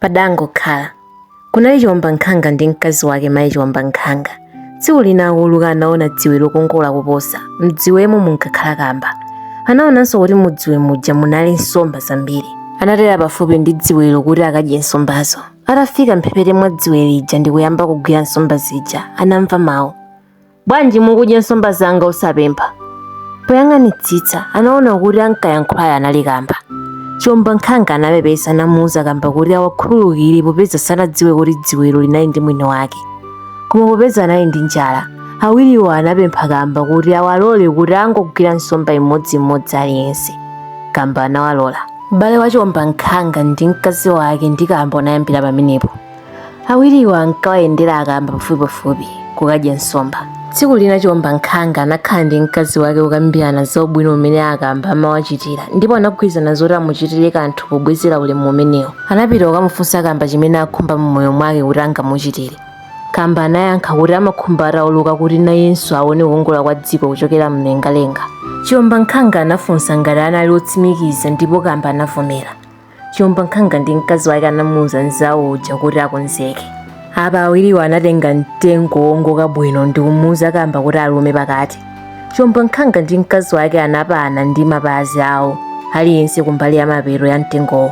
Padangokhala. Kunali chiwombankhanga ndi mkazi wake mayi chiwombankhanga. Tsiku lina akuuluka anaona dziwe lokongola kuposa, mdziwemo munkakhala kamba. Anaonanso kuti mudziwe muja munali nsomba zambiri. Anatera pafupi ndi dziwelo kuti akadye nsombazo. Atafika mphepete mwa dziwe lija ndi kuyamba kugwira nsomba zija, anamva mawu. bwanji mukudya nsomba zanga osapempha poyang'anitsitsa anaona kuti ankayankhulayo anali kamba chiwombankhanga anapepesa namuuza kamba kuti awakhululukire popeza sanadziwe kuti dziwelo linali ndi mwini wake koma popeza anali ndi njala awiriwo anapempha kamba kuti awalole kuti angogwira nsomba imodziimodzi aliyense kamba anawalola ubale wa chiwombankhanga ndi mkazi wake ndi kamba unayambira pamenepo awiriwo ankawayendera akamba pafupipafupi kukadya nsomba tsiku lina chiwombankhanga anakhala ndi mkazi wake kukambirana za ubwino umene akamba amawachitira ndipo anagwirizana zoti amuchitire kanthu pobwezera ulemu umenewo anapita kukamufunsa kamba chimene akhumba mmoyo mwake kuti angamuchitire kamba anayankha kuti amakhumba atauluka kuti nayenso aone kukongola kwa dziko kuchokera mlengalenga chiwombankhanga anafunsa ngati anali otsimikiza ndipo kamba anavomera chiombankhanga ndi mkazi wake anamuuza mzawo uja kuti akonzeke apa awiriwo anatenga mtengo wongoka bwino ndi kumuuza kamba kuti alume pakati chiombankhanga ndi mkazi wake anapana ndi mapazi awo aliyense kumbali ya mapeto ya mtengowo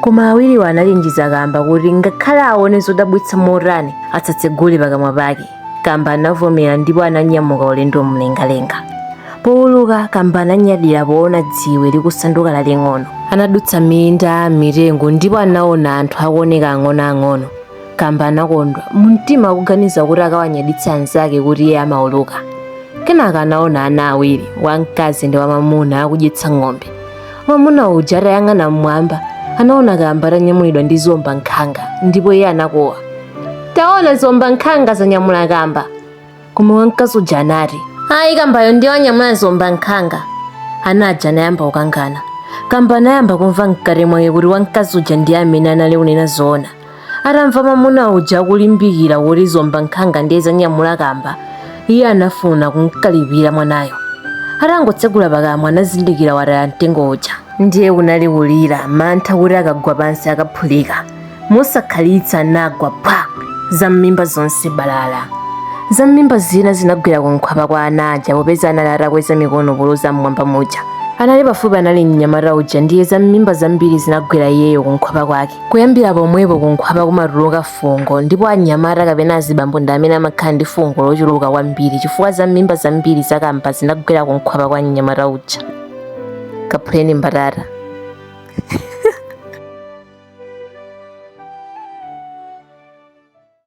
koma awiriwo anachenjeza kamba kuti ngakhale aone zodabwitsa motani asatsegule pakamwa pake kamba anavomera ndipo ananyamuka ulendo mlengalenga powuluka kamba ananyadira poona dziwe likusanduka laling'ono anadutsa minda mitengo ndipo anaona anthu akuoneka ang'onoang'ono kamba anakondwa mumtima akuganiza kuti akawanyaditsa anzake kuti iye amauluka kenaka anaona ana awiri wamkazi ndi wamamuna akudyetsa ng'ombe mwamuna uja atayang'ana mmwamba anaona kamba atanyamulidwa ndi ziwombankhanga ndipo iye anakuwa taona ziwombankhanga zanyamula kamba koma wamkazi uja anati ayi kambayo ndiye wanyamula ziwombankhanga ana aja anayamba kukangana kamba anayamba kumva mkati mwake kuti wamkazi uja ndiye amene anali kunena zoona Atamva mwamuna uja akulimbikira kuti ziombankhanga ndiye zanyamula kamba, iye anafuna kumkalipira mwanayo. Atangotsegula pakamwa anazindikira wataya mtengo uja. Ndiye kunali kulira, mantha kuti akagwa pansi akaphulika. Mosakhalitsa anagwa phwa! Zam'mimba zonse balala. Zam'mimba zina zinagwera kunkhwapa kwa ana aja popeza anali atakweza mikono poloza m'mwamba muja. Anali pafupi anali mnyamata uja ndiye zam'mimba zambiri zinagwera iyeyo kunkhwapa kwake. kuyambira pomwepo kunkhwapa kumatuluka fungo ndipo anyamata kapena azibambo ndi amene amakhala ndi fungo lochuluka kwambiri chifukwa za m'mimba zambiri zakamba zinagwera kunkhwapa kwa mnyamata uja kaphuleni mbatata